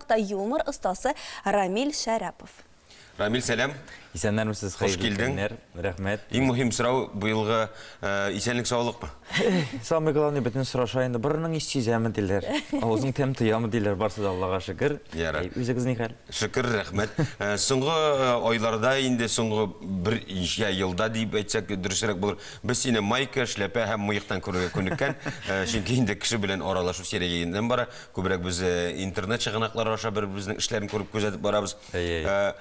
кунакта юмор остасы Рамил Шәрәпов. Рамил, сәлам. Исәннәрмесез, Хуш хәерле килдең. көннәр. Рәхмәт. Иң мөһим сорау быелгы э, исәнлек саулыкмы? Самый главный бөтен сораша инде. Борының ис сизәме диләр. Авызың тәм тоямы диләр. Барсы да Аллага шөкер. Ярар. Әй, Үзегез ни хәл? Шөкер, рәхмәт. Э, Соңгы э, айларда инде соңгы бер ишә елда дип әйтсәк дөресрәк булыр. Без сине майка, эшләпә һәм мыектан күрергә күнеккән. Э, Чөнки инде кеше белән аралашу сирәгәеннән бара. Күбрәк без э, интернет чыганаклары аша бер-беребезнең эшләрен күреп күзәтеп барабыз. Әйе. Э,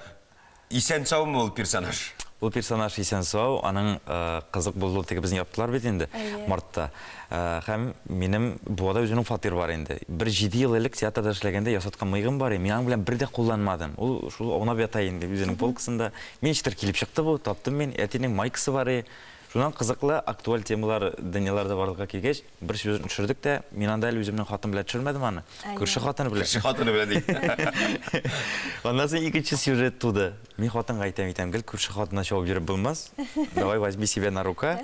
Исән саумы ул персонаж? Ул персонаж исән сау, аның э, кызык булуы теге безне яптылар бит инде Әйе. мартта. Э, Һәм минем Буада үземнең фатир бар инде. Бер җиде ел элек театрда эшләгәндә ясаткан мыегым бар, и, мин аның белән бер дә кулланмадым. Ул шул аунап ята инде үзенең полкасында. Мин ничектер килеп чыкты бу, таптым мин. Әтинең майкасы бар, и, Шуннан кызыклы, актуаль темалар, дөньялар да барлыкка килгәч, бер сюжетны төшердек тә, мин анда әле үземнең хатыным белән төшермәдем аны, күрше хатыны белән. Күрше хатыны белән ди. Аннан соң икенче сюжет туды. Мин хатынга әйтәм, әйтәм, гел күрше хатынына чабып йөреп булмас, давай возьми себя на рука,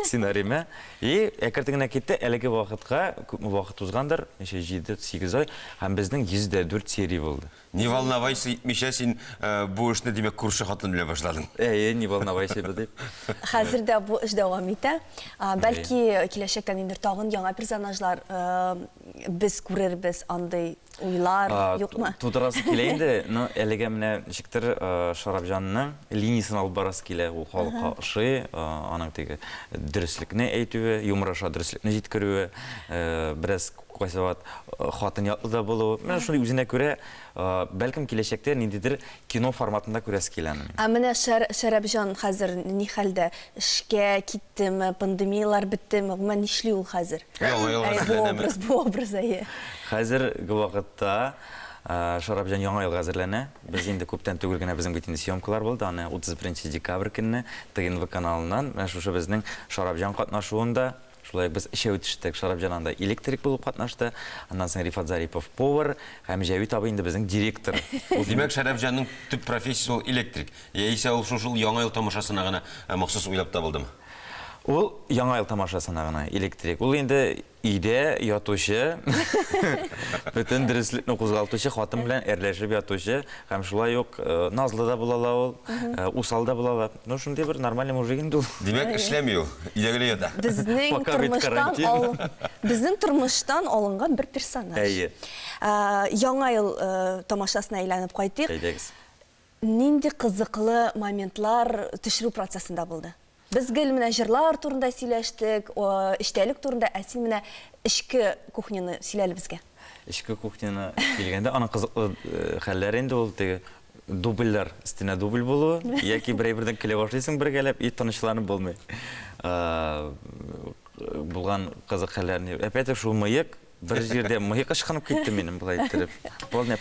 сценариемә. И әкертен генә китте, әлеге вакытка, күпме вакыт узгандыр, ничә, җиде, сигез ай, һәм безнең 104 серия булды. Не волновайся итмичә син бу эшне, димәк, күрше хатын белән башладың. Әйе, не волновайся бу дип. Хәзер дә бу эш дәвам итә. Бәлки киләчәктә ниндидер тагын яңа персонажлар без күрербез, андый уйлар юкмы? Тудырасы килә инде, но әлегә менә ничектер Шарапҗанның линиясен алып барасы килә, ул халыкка ошый, аның теге дөреслекне әйтүе, юмораша дөреслекне җиткерүе, бераз Кайсы вакыт хатын ятлы да булу. Менә шундый үзенә күрә, бәлкем, киләчәктә ниндидер кино форматында күрәсе килә аны минем. Ә менә Шәрәпҗан хәзер ни хәлдә? Эшкә киттеме, пандемияләр беттеме, гомумән нишли ул хәзер? Яңа елга әзерләнәме? Бу образ, әйе. Хәзерге вакытта Шәрәпҗан яңа елга әзерләнә. Без инде күптән түгел генә безнең бит инде съемкалар булды, аны 31 декабрь көнне ТНВ каналыннан, менә шушы безнең Шәрәпҗан катнашуында Шулай без өчәү төштек. Шарапҗан анда электрик булып катнашты. Аннан соң Рифат Зарипов повар һәм Җәвит абый инде безнең директор. Ул димәк Шәрәфҗанның төп профессиясе ул электрик. Яисә ул шушы Яңа ел тамашасына гына э, махсус уйлап табылдымы? Ул Яңа ел тамашасына гына электрик. Ул инде өйдә ятучы, бөтен дөреслекне кузгалтучы, хатын белән әрләшеп ятучы һәм шулай ук э, назлы да була ла ул, э, усал да була ла. Ну, шундый бер нормальный мужик инде ул. Димәк, эшләми ул, өйдәгеләй ята. Безнең Пока бит тормыштан карантин. ал... Безнең тормыштан алынган бер персонаж. Әйе. А, Яңа ел э, тамашасына әйләнеп кайтыйк. Әйдәгез. Нинди кызыклы моментлар төшерү процессында булды? Без гел менә җырлар турында сөйләштек, о, эчтәлек турында, ә син менә эчке кухняны сөйлә әле безгә. Эчке кухняны килгәндә, аның кызыклы э, хәлләре инде ул теге Дубльләр өстенә дубль булу, яки бер әйбердән көлә башлыйсың бергәләп, и тынычланып булмый. Э, булган кызык хәлләрне. Опять шул мыек, бер җирдә мыек ышкынып китте минем былай иттереп. Полный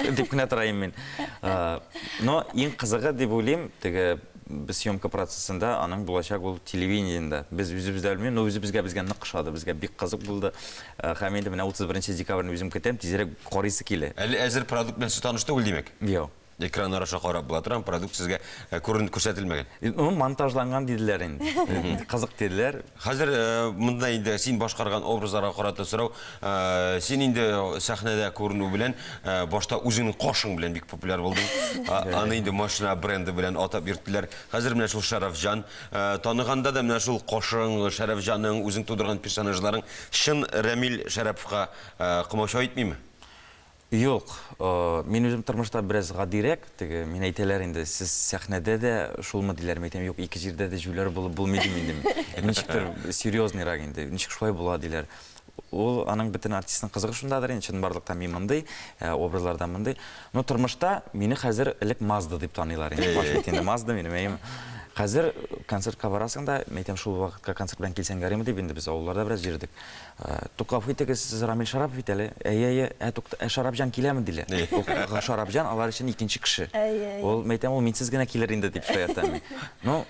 дип кенә тора идем мин. Э, Но иң кызыгы дип уйлыйм, теге без съемка процессында аның булачак ул телевидениедә. Без үзебез дә белмим, но үзебезгә безгә нык ошады, безгә бик кызык булды. Э, һәм инде менә 31 декабрьне үзем көтәм, тизрәк карыйсы килә. Әле әзер продукт белән сез таныш түгел, димәк? Юк. Экраннар аша карап була тора, продукт сезгә э, күренеп күрсәтелмәгән. Ну, монтажланган диделәр инде. Кызык диделәр. Хәзер монда инде син башкарган образларга карата сорау. Син инде сәхнәдә күренү белән, башта үзеңнең кашың белән бик популяр булдың. Аны инде машина бренды белән атап йөрттеләр. Хәзер менә шул Шәрәфҗан. Таныганда да менә шул кашың, Шәрәфҗаның, үзең тудырган персонажларың чын Рәмил Шәрәповка комачау итмиме? Юк, мин үзем тормышта бераз гадирәк, теге, мин әйтәләр инде, сез сәхнәдә дә шулмы диләр, мин әйтәм, юк, ике җирдә дә җүләр булып булмый дим инде мин. Ничектер серьезныйрак инде, ничек шулай була диләр. Ул, аның бөтен артистның кызыгы шундадыр инде, чынбарлыкта мин мондый, образларда мондый. Но тормышта мине хәзер элек Мазда дип таныйлар инде, фаш бит инде Мазда минем, әйеме. Хәзер концертка барасың да, мин әйтәм, шул вакытка концерт белән килсәң ярыймы дип, инде без авылларда бераз йөрдек. Ә, Тукав, итегез, сез Рамил Шарапов бит әле. Әйе, әйе, ә, тукта, ә Шарапҗан киләме, диләр. Ул, Шарапҗан алар өчен икенче кеше. Әйе, әйе. Ул, мәйтәм, ул минсез генә килер инде, дип шаяртам мин. Ну,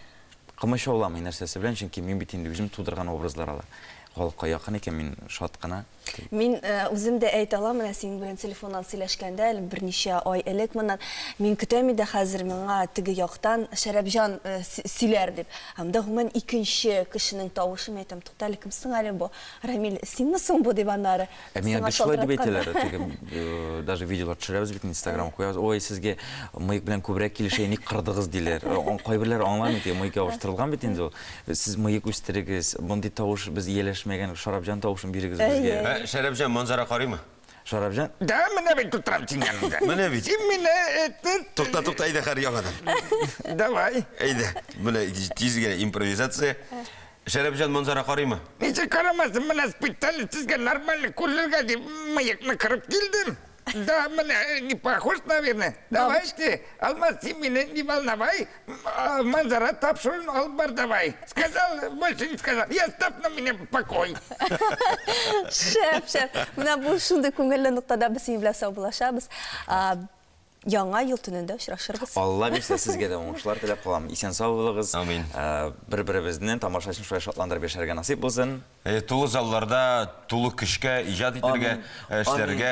кымычауламый нәрсәсе белән, чөнки мин бит инде үзем тудырган образлар алар. Халыкка якын икән, мин шат кына. Мин э, үзем дә әйтә алам, менә синең белән телефоннан сөйләшкәндә, әле берничә ай элек моннан, мин көтәм иде хәзер миңа теге яктан Шәрәпҗан э, сөйләр дип. Анда гомумән икенче кешенең тавышы, мин әйтәм, тукта әле, кем соң әле бу, Рамил, синме соң бу, дип аннары. Ә миңа бит шулай дип әйтәләр, теге э, даже видеолар төшерәбез бит инстаграм куябыз, ой, сезгә мыек белән күбрәк килешә, ник кырдыгыз диләр. Кайберләр аңламый, теге мыек ябыштырылган бит инде ул. Сез мыек үстерегез, мондый тавыш без ияләшмәгән, Шарапҗан тавышын бирегез безгә. Ә, Шәрәпҗан, манзара карыймы? Шарапҗан, да менә бит тутырам син яныңда. Менә бит. Син мине этне... Тукта, тукта, әйдә хәр яңадан. Давай. Әйдә, менә тиз генә импровизация. Шәрәпҗан Манзара карыймы? Ничек карамасын, менә специально сезгә нормально күрергә дип мыекны кырып килдем. Да, менә не похож, наверное. Давай, Алмаз, син мине не волновай, А, Манзара тапшыруын алып бар давай. Сказал, больше не сказал. И оставь на меня покой. Шәп, шәп. Менә бу шундый күңелле ноктада без синең белән саубуллашабыз. А, Яңа ел төнендә очрашырбыз. Алла бирсә, сезгә дә уңышлар теләп калам. Исән сау булыгыз. Амин. Ә, Бер-беребезне тамашачыны шулай шатландырып яшәргә насыйп булсын. Э, Тулы залларда, тулы көчкә иҗат итәргә, Амин. э, эшләргә.